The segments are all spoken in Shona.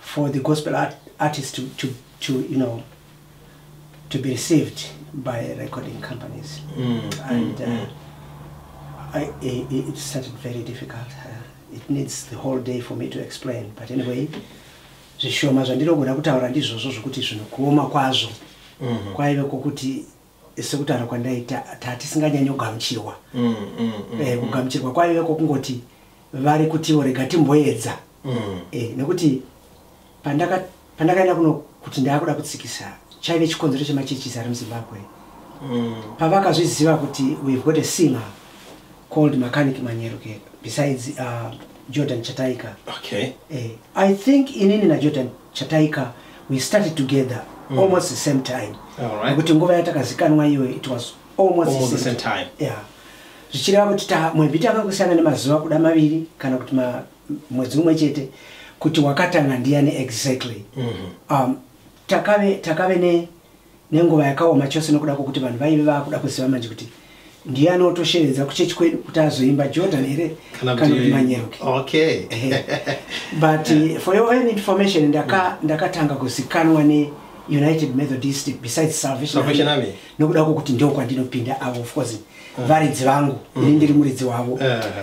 for the gospel art, artist to, to, to you know to be received by recording companies mm. and mm, uh, mm. I, it, it started very difficult uh, it needs the whole day for me to explain but anyway zvishoma zvandinogona kutaura ndizvozvo zvokuti zvinokuoma kwazvo mm -hmm. kwaive kwokuti sekutaura kwandaita tatisinganyanyogamuchirwa mm, mm, mm, eh, kugamuchirwa kwaive kwokungoti vari kutiwo rega timboedza eh, nekuti pandakaenda kuno kuti ndaakuda kutsikisa chaive chikonzero chemachechisi ari muzimbabwe pavakazviziva kuti we've got a singer called mechanic manyeruke besides uh, jordan chataika okay. eh, i think inini najordan chataika we started together mm. almost the same time nekuti nguva yatakazikanwa iyoyo it was almost, almost the same time yeah zvichireva kuti mwedzi tanga kusiyana nemazuva kuda maviri kana kuti mwedzi umwe chete kuti wakatanga ndiyani exactly mm -hmm. um, takave, takave ne nenguva yakaoma chose nokuda kwokuti vanhu vaive vaakuda kuziva manje kuti ndiye anotoshevedza kuchechi kwedu kuti azoimba jordan here kana kuti manyeruki okay. but uh, for your own information ndakatanga ndaka, ndaka kuzikanwa ne united methodist besides salvation army nokuda kwokuti ndo kwandinopinda avo of course mm. varidzi vangu mm. ini ndiri muridzi wavo uh,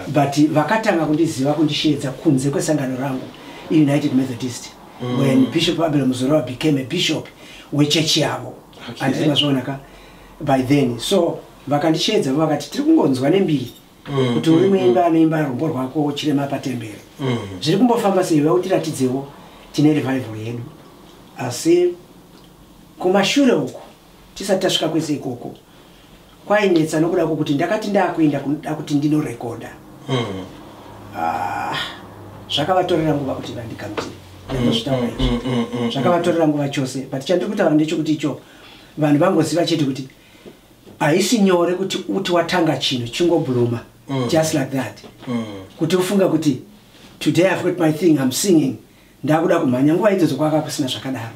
but vakatanga kundiziva kundisheedza kunze kwesangano rangu united methodist mm. when bishop abel muzorova became a bishop wechechi yavo okay. anditi mazviona ka by then so vakandisheedza vo vakati tiri kungonzwa nembiri mm, kuti uri mm, muimba mm. anoimba rumbo rwako chirema patembere mm. zviri kumbofamba sei vautiratidzewo tine revival yedu asi kumashure uku tisati tasvika kwese ikoko kwainetsa nokuda kwokuti ndakati ndakuenda kunoda kuti ndinorekodha hmm. ah, zvakavatorera nguva kuti vandikamtire ndozvitaura izvi mm, mm, mm, zvakavatorera nguva chose but chandiri kutaura ndechokuti icho vanhu vangoziva chete kuti haisi nyore kuti uti watanga chinhu chingobuluma just like that kuti ufunga kuti today i've got my thing i'm singing ndakuda kumhanya nguva idzodzo kwaka kusina zvakadaro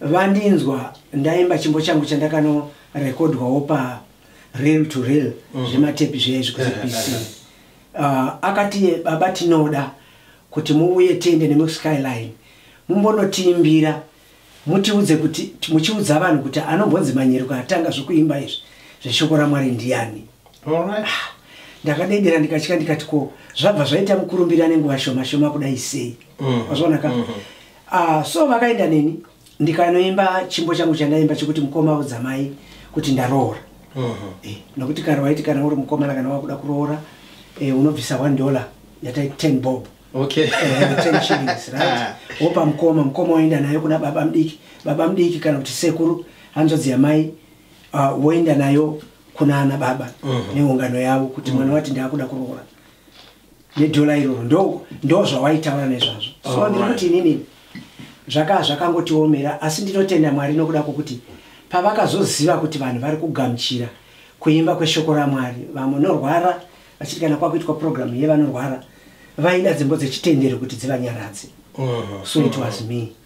vandinzwa ndaimba chimbo changu chandakanorekodwawo pa real to real mm. zvematepi zveizvi kuzipc uh, ah, akati baba tinoda kuti muuye tiende nemuskyline mumbonotiimbira mutiudze kuti muchiudza vanhu kuti anombonzi manyeruko atanga zvekuimba izvi zveshoko ramwari ndiyani ah, ndakadedera ndikatya ndikati ko zvabva zvaita mukurumbira nenguva shoma shoma kudai sei mm. wazvonaka mm -hmm. Ah, so vakaenda neni ndikanoimba chimbo changu chandaimba chekuti mukoma audzamai kuti ndaroora mhm. eh, nokuti kare waiti kana uri mukomana kana wakuda kuroora eh, unobvisa one dollar yatai ten bob eh, ah. wopa mukoma mukoma woenda nayo kuna baba mudiki baba mudiki kana kuti sekuru hanzvadzi yamai ah, woenda nayo kuna ana baba mhm. neungano yavo kuti mwana mhm. wati ndaakuda kuroora nedhola iroro ndo ndo zvawaitaura nezvazvo so ndiri kuti inini zvakaa zvakangotiomera asi ndinotenda mwari nokuda kwokuti pavakazoziva kuti vanhu vari kugamuchira kuimba kweshoko ramwari vamwe norwara vachiti kana kwakuitwa purogiramu yevanorwara vaida dzimbo dzechitendero kuti dzivanyaradze so it was me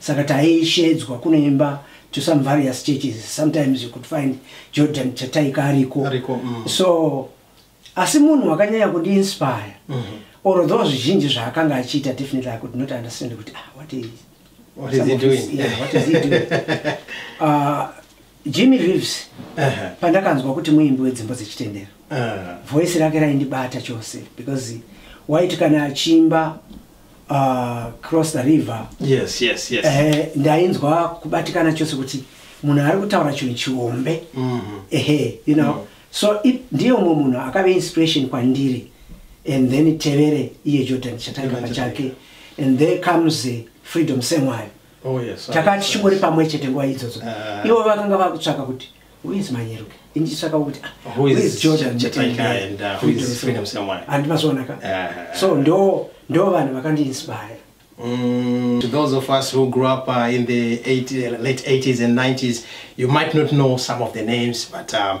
saka taishedzwa kunoimba to some various churches sometimes you could find jordan chataika ariko mm. so asi munhu wakanyanya kundiinspire mm -hmm. or though zvizhinji zvaakanga achiita definitely i could not understand kuti ah, what is, what is he doing? Of, yeah, what is he doing? uh, Jimmy Reeves uh -huh. pandakanzwa kuti muimbi wedzimbo dzechitendero uh -huh. voice rake raindibata chose because waiti kana achiimba uh, cross the river yes, yes, yes. Eh, ndainzwa kubatikana chose kuti munhu ari kutaura chinhu chihombe mm -hmm. ehe you know mm -hmm so ndiye umwe munhu akave inspiration kwandiri and then tevere iye jordan chatanga pachake and there comes freedom same wayo Oh, takanga tichingori pamwe chete nguva idzodzo ah. ivo vakanga vakutsvaka kuti whois manyeruke inditsvaka kuti handi mazonaka so ndo ndo vanhu vakandiinspire Mm, to those of us who grew up uh, in the 80, late 80s and 90s, you might not know some of the names, but um,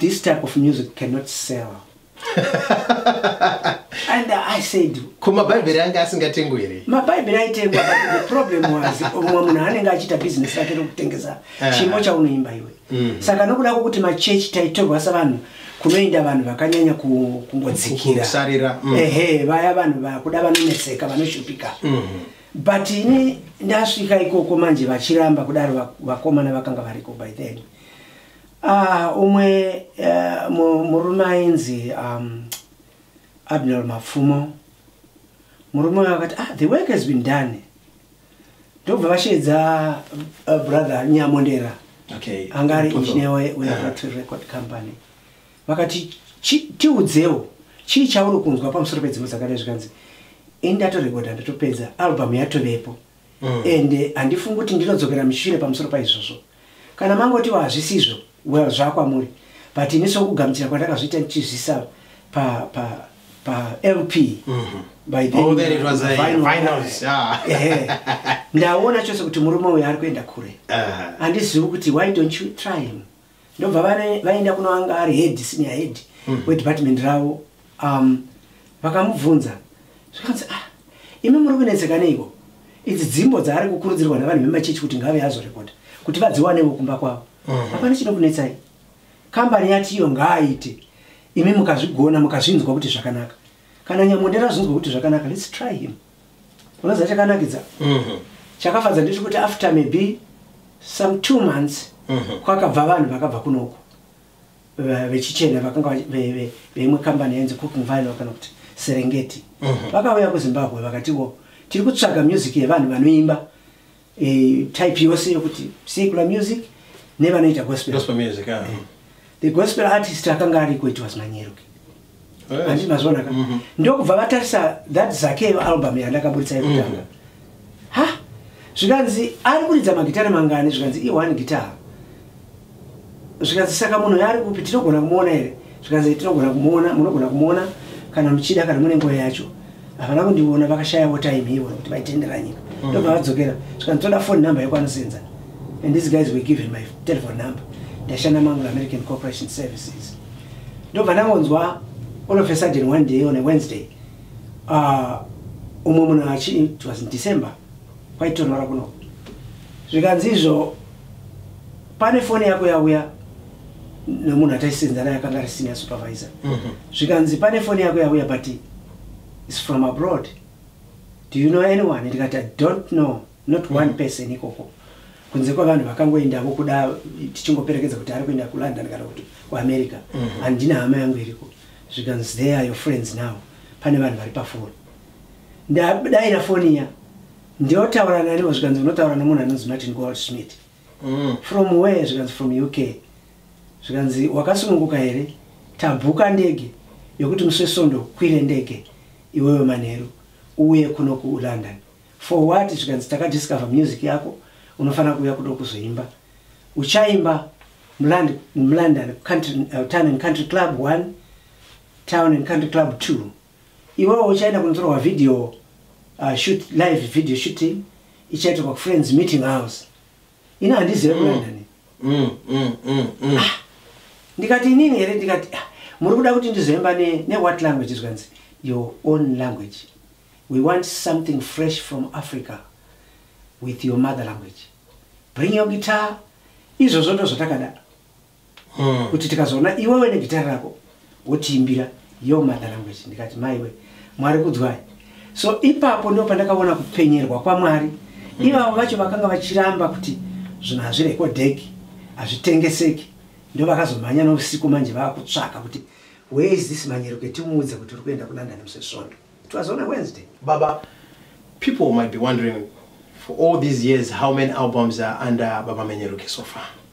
this type of music cannot sell and i said ko mabhaibheri ange asingatengwe here mabhaibheri aitengwa the problem was umwe munhu anenge achiita business rake rekutengesa eh. chimo chaunoimba iwe mm. saka nokuda kwokuti machechi taitorwa savanhu kunoenda vanhu vakanyanya kungodzikirasarira mm. ehe vaya vanhu vakuda vanonetseka vanoshupika mm-hmm. but ini ndasvika ikoko manje vachiramba kudaro vakomana vakanga variko by then Ah, umwe uh, murume ainzi um, abner mapfumo murume uyo akati ah, the work has been done ndobva vasheedza uh, brother nyamondera okay. anga ari engineer weatry record company vakati tiudzewo chii chauri kunzwa pamusoro pedzimwe dzakadai zvikanzi ini ndatorekodha ndotopedza album yatovepo mm. and eh, handifungi kuti ndinodzokera mushure pamusoro paizvozvo kana mangotiwo hazvisizvo well zvakwamuri but ini sokugamuchira kwandakazviita ndichizvisa pa, pa, pa lp mm -hmm. by then, oh, then it was a finals yeah. yeah. ndaona chose kuti murume uyo ari kuenda kure uh-huh. handizivi uh -huh. kuti why don't you try him ndobva vaenda kuno anga ari head senior head mm. wedepartment ravo um, vakamubvunza zvikanzi ah imi muri kunetseka neiko idzi dzimbo dzaari kukurudzirwa navanhu vemachechi kuti ngave azorekoda kuti vadziwanevo kumba kwavo mm-hmm. hapana chinokunetsai kambani yati iyo ngaaite imi mukazvigona mukazvinzwa kuti zvakanaka kana nyamondera zvinzwa kuti zvakanaka lets try him mm. unoziva chakanakidza mhm. chakafadza ndechekuti after maybe some two months mhm. kwakabva vanhu vakabva kunoku vechichena vakanga veimwe kambani yainzi cooking vine kana kuti serengeti mhm. vakauya kuzimbabwe vakatiwo tiri kutsvaga music yevanhu vanoimba e, type yose yokuti secular music nevanoita gospel, gospel music yeah. e, the gospel artist akanga ariko it was manyero handi yes. mazvona ka mm -hmm. ndokubva vatarisa that zakeo album yandakaburitsa yekutanga mm -hmm. ha zvikanzi ari kuridza magitare mangani zvikanzi i one guitar zvikanzi saka munhu yaari kupi tinogona kumuona here zvikanzi tinogona kumuona munogona kumuona kana muchida kana mune nguva yacho havana kundiona vakashayawo time ivo kuti vaitendera nyika mm. ndobva vadzokera zvikanzi toda phone number yekwanosenza and these guys were given my telephone number ndashanda manglo american corporation services ndobva ndangonzwa all of a sudden one day on a wednesday ah, umwe munhu achi it was in december kwaitonora kuno zvikanzi izvo pane foni yako yauya nemunhu ataisenza naye akanga ari senior supervisor mhm. zvikanzi pane foni yako yauya but is from abroad do you know anyone ndikati i don't know not one mhm. person ikoko kunze kwavanhu vakangoendavo kuda tichingoperekedza kuti ari kuenda kulondon kana kuti kuamerica mhm. handina hama yangu iriko zvikanzi there are your friends now pane vanhu vari pafoni ndadaira foni iya ndiotaura naniwo zvikanzi unotaura nomunhu anonzi martin gold smith mm. from where zvikanzi from uk zvikanzi wakasununguka here tabhuka ndege yokuti musi wesondo kwire ndege iwewe manheru uye kuno kulondon for what zvikanzi takadiscover music yako unofanira kuuya kudo kuzoimba uchaimba mulondon country, uh, town and country club one town and country club two Iwewe uchaenda kunotorwa video uh, shoot live video shooting ichaitirwa kufriends meeting house. Ina handizive mm. kuenda ni. Mm, mm, mm, mm. Ah, ndikati inini here ndikati ah, muri kuda kuti ndizoimba ne, ne what language zvikanzi your own language. We want something fresh from Africa with your mother language. Bring your guitar. Izvozvo ndozvatakadaro. hmm. kuti tikazoona iwewe negitari rako wotiimbira yo mother language ndikati maiwe mwari kudzwai so ipapo ndo pandakaona kupenyerwa kwamwari hmm. ivavo vacho vakanga vachiramba kuti zvinhu hazvirekodheki hazvitengeseki ndo vakazomhanya nousiku manje vaakutsvaka kuti where is this manyeruke timuudze kuti uri kuenda kulondon musesvondo it was on a wednesday baba people might be wondering for all these years how many albums are under baba manyeruke so far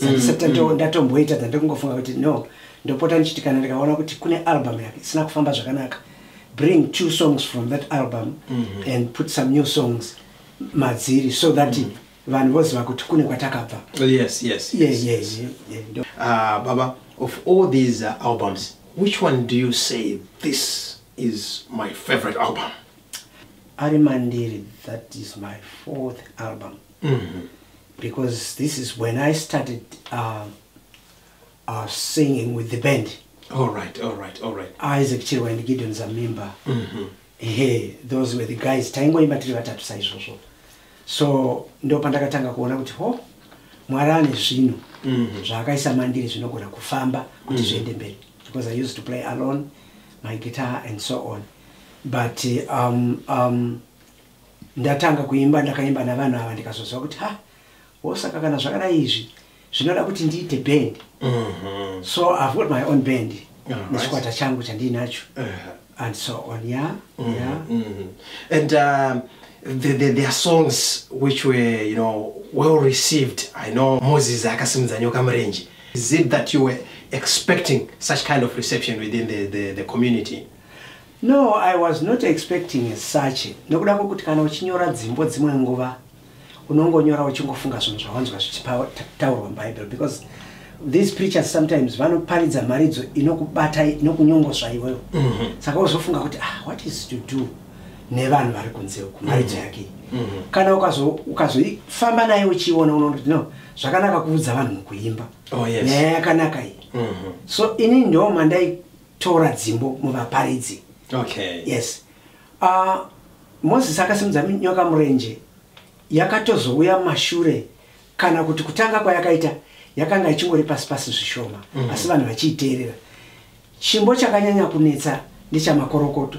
sandisati mm, mm. ndatomboita than ndokungofunga kuti no ndopota ndichiti kana ndikaona kuti kune album yake isina kufamba zvakanaka bring two songs from that album mm -hmm. and put some new songs madziri so that mm -hmm. vanhu voziva kuti kune kwatakabva oh, yes, yes, yeah, yes, yeah, yes. Yeah, yeah, yeah. Uh, baba of all these uh, albums which one do you say this is my favorite album ari mandiri that is my fourth album mm -hmm. because this is when i started uh, uh, singing with the band all right all right all right isaac chirwa and gideon zamimba mm -hmm. he those were the guys taingoimba tiri vatatu saizvozvo so ndo pandakatanga kuona kuti ho oh, mwari ane zvinhu mhm. zvaakaisa mandiri zvinogona kufamba kuti mhm. zviende mberi because i used to play alone my guitar and so on but um, um, ndatanga kuimba ndakaimba navanhu ava ndikazoziva kuti ha wosaka kana zvakadai izvi zvinoda kuti ndiite band mhm. so i've got my own band nechikwata changu chandiinacho and so on ya mhm, ya mhm. and um, the, the, their songs which were you know well received i know moses akasimudza nyoka murenje is it that you were expecting such kind of reception within the, the, the community No, I was not expecting as such nekuda kwekuti kana uchinyora dzimbo dzimwe nguva unongonyora uchingofunga zvinhu zvawanzwa zvichitaurwa mubible because these preachers sometimes vanoparidza mharidzo inokubata inokunyongosva iwewo mhm. saka wozofunga kuti ah, what is to do nevanhu vari kunze uku mharidzo mhm. yake mhm. kana ukazoifamba naye uchiona unonoti no zvakanaka kuudza vanhu mukuimba oh, nyaya yakanaka iyi so ini ndo mandai tora dzimbo muvaparidzi okay. yes uh, moses akasimudza nyoka murenje yakatozouya mashure kana kuti kutanga kwayakaita yakanga ichingori pasi pasi zvishoma mm -hmm. asi vanhu vachiiteerera chimbo chakanyanya kunetsa ndechamakorokoto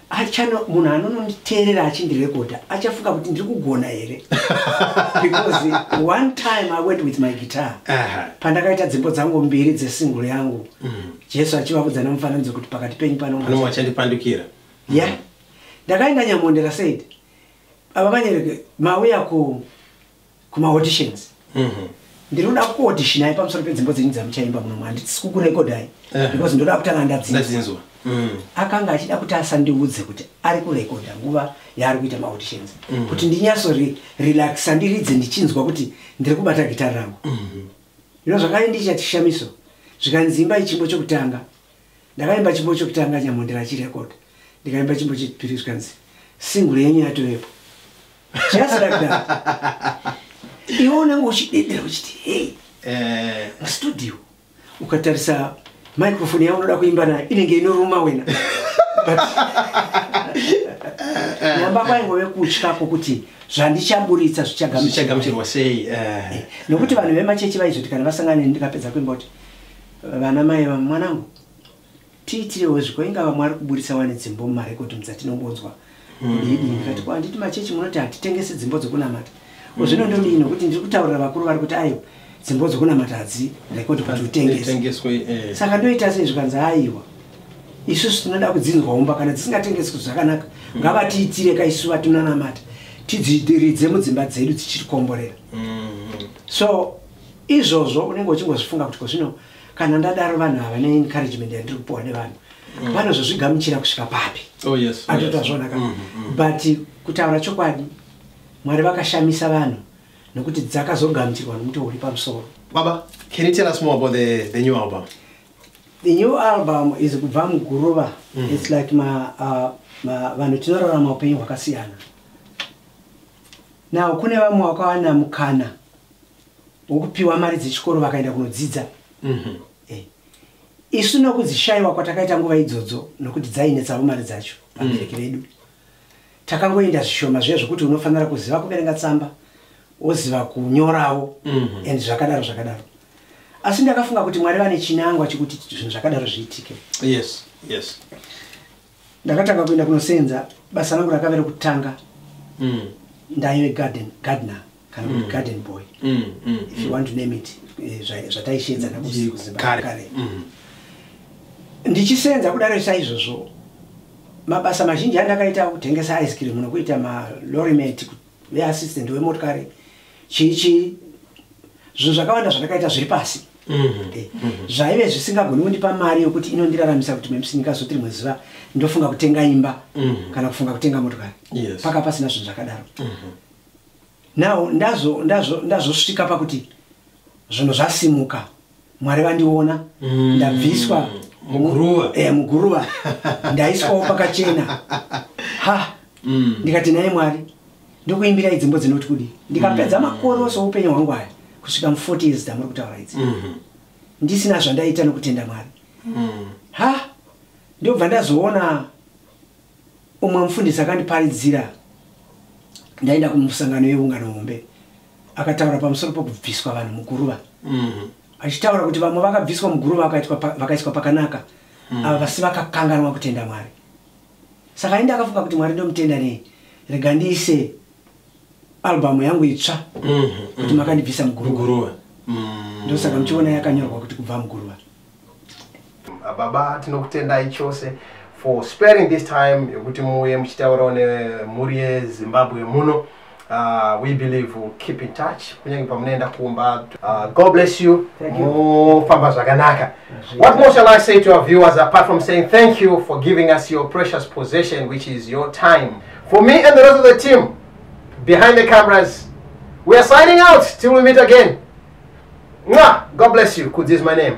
achano munhu anononditeerera achindirekodha achafunga kuti ndiri kugona here because one time i went with my guitar pandakaita dzimbo dzangu mbiri dzesingle yangu mm. jesu achivavudza nemufananidzo kuti pakati penyu panomachandipandukira ya ndakaenda nyamondera said ava manyereke mauya ku kuma auditions mhm. ndinoda kuodishinai pamusoro pedzimbo dzenyu dzamuchaimba muno mwandisi kukurekodai eh. because ndoda kutanga ndadzinzwa mm. akanga achida kuti asandiudze kuti ari kurekodha nguva yaari kuita maauditions mm. kuti ndinyaso relaxa ndiridze ndichinzwa kuti ndiri kubata gitari rangu mm-hmm. ino zvakare ndichati shamiso zvikanzi imba ichimbo chokutanga ndakaimba chimbo chokutanga nyamondera chirecord ndikaimba chimbo chechipiri zvikanzi single yenyu yatovepo just like that iwe unenge uchidedera uchiti hei eh. mustudio ukatarisa microfone yaunoda kuimba nayo inenge inoruma wena nyamba kwaingove kutya kwokuti zvandichamburitsa zvichagamuchirwa sei eh. Eh, nokuti vanhu vemachechi vaizoti kana vasangane ndikapedza kuimba kuti Vana mai vamwe mwanangu tiitirewo zviko ingava mwari kuburitsa wani dzimbo mumarekodhi mudzatinongonzwa hmm. didi ndikati ko handiti machechi munoti hatitengesi dzimbo dzokunamata ko zvino ndodii nokuti ndiri kutaurira vakuru vari kuti aiwa dzimbo dzokunamata hadzi rekodhi kuti utengeswe eh. saka ndoita sei zvikanzi aiwa isusu tinoda kudzinzwa umba kana dzisingatengeswi zvakanaka hmm. ngavatiitire ka isu vatinonamata tidzidiridze mudzimba dzedu dzichitikomborera hmm. so izvozvo unenge uchingozvifunga kuti kozvino kana ndadaro vanhu ava neencouragement yandiri kupiwa nevanhu mm. vanozozvigamuchira kusvika papi oh, atoita zvonaka mm, mm, but kutaura chokwadi mwari vakashamisa vanhu nokuti dzakazogamuchirwa nomuti uri pamusoro baba can you tell us more about the, the new album the new album is kubva muguruva mm. its like uh, vanhu tinorarama upenyu hwakasiyana now kune vamwe wakawana mukana wokupiwa mari dzechikoro vakaenda kunodzidza mhm. eh. isu nokudzishaiwa kwatakaita nguva idzodzo nokuti dzainetsavo mari dzacho vabereki mm. vedu takangoenda zvishoma zviya zvokuti unofanira kuziva kuverenga tsamba woziva kunyoravo mhm. and zvakadaro zvakadaro asi ndakafunga kuti mwari vane chinangwa chekuti zvinhu zvakadaro zviitike yes yes ndakatanga kuenda kunosenza basa rangu rakave rekutanga mm. ndaive garden gardener kana kuti mm. garden boy mm, mm, if you mm. want to name it eh, zvataishenza nakuzimbakare mm. ndichisenza kudaro saizvozvo mabasa mazhinji andakaita kutengesa ice cream nokuita malorimet ve assistant we motikari chii chii zvinhu zvakawanda zvandakaita zviri pasi mm-hmm. eh, mm-hmm. zvaive zvisingagoni kundipa mari yokuti inondiraramisa kuti mepsi ndikazoti rimwe zuva ndofunga kutenga imba mm-hmm. kana kufunga kutenga motokari paka pasina zvinhu zvakadaro now ndazosvika pakuti zvinhu zvasimuka mwari vandiona mm. ndabviswa muguruva eh, muguruva ndaiswawo pakachena ha mm. ndikati naye mwari ndokuimbira idzimbo dzinoti kudii ndikapedza mm. makore ose oupenyu hwangu aya kusvika mu40 years dzamuri kutaura idzi mm -hmm. ndisina zvandaita nokutenda mwari mm. ha ndobva ndazoona umwe mufundisi akandiparidzira ndaenda kumusangano yeungano hombe akataura pamusoro pokubviswa vanhu muguruva mm. achitaura kuti vamwe vakabviswa muguruva vakaiswa pakanaka mm. ava vasi vakakanganwa kutenda mwari saka ainde akafunga kuti mwari ndomutenda nei rega ndiise albamu yangu itsva mm-hmm. kuti makandibvisa muguruva ndosaka muchiona yakanyorwa kuti kubva muguruva baba tinokutendai chose for sparing this time yekuti muuye muchitaurawo nemhuri yezimbabwe muno uh, we believe we'll keep in touch kunyange pamunoenda kumba uh, god bless you mufamba zvakanaka what more shall i say to our viewers apart from saying thank you for giving us your precious possession which is your time for me and the rest of the team behind the cameras we are signing out till we meet again Mwah! god bless you kudzi's my name